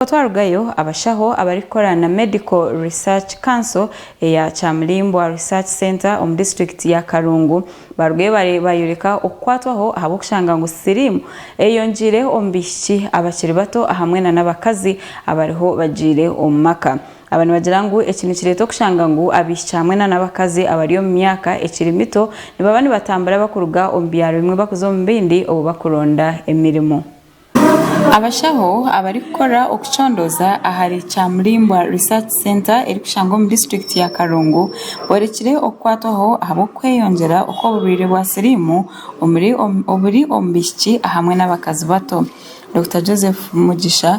Obwo twarugayo, abashaho abarikukora na Medical Research Council eya Kyamurimbwa Research Centre omu disiturikiti ya Karungu baarugayo baayoreka okukwatwaho ahabw'okushanga ngu siriimu eyongiire omu baishiki abakiri bato ahamwe nana abakazi abariho bagiire omu maka aba nibagira ngu eki nikireeta okushanga ngu abaishiki hamwe nana abakazi abari omu myaka ekiri mito nibaba nibatambura bakuruga omu byaro bimwe bakuza omu bindi obu bakuronda emirimo. Abashaho abarikukora okucondooza ahari Kyamurimbwa Research Centre erikushangwa omu disiturikiti ya Karongo borekire okukwatwaho ahabw'okweyongyera okw'oburwaire bwa siriimu oburi omu baishiki hamwe n'abakazi bato. Dokita Joseph Mugisha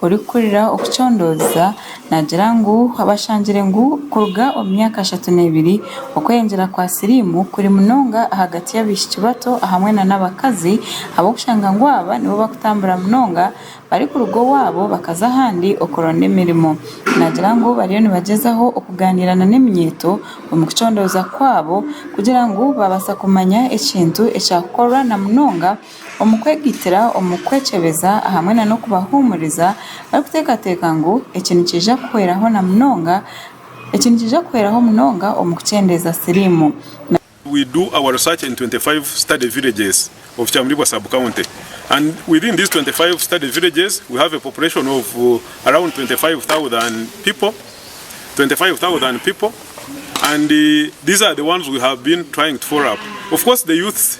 orikukurira okucondooza. Naagira ngu abashangire ngu kuruga omu myaka ashatu n'ebiri, okweyengyera kwa siriimu kuri munonga ahagati y'abaishiki bato ahamwe nana abakazi ahabw'okushanga ngu aba nibo barikutambura munonga barikuruga owaabo bakaza ahandi okuronda emirimo. Naagira ngu bariyo nibagyezaho okugaaniira nana eminyeeto omu kucondooza kwaabo kugira ngu baabaasa kumanya ekintu ekyakukorwa na munonga omu kwegitira omu kwekyebeza ahamwe na n'okubahuumuriza barikuteekateeka ngu eki nikiija kuhweraho na munonga eki nikiija kuhweraho munonga omu kukyendeeza siriimu na we do our research in 25 study villages of Kyamulibwa sub-county and within these 25 study villages we have a population of around 25,000 people 25,000 people and these are the ones we have been trying to follow up of course the youths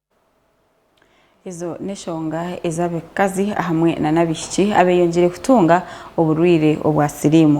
Ezo n'eshonga ezi abakazi ahamwe nana abaishiki abeyongiire kutunga oburwiire obwa siriimu.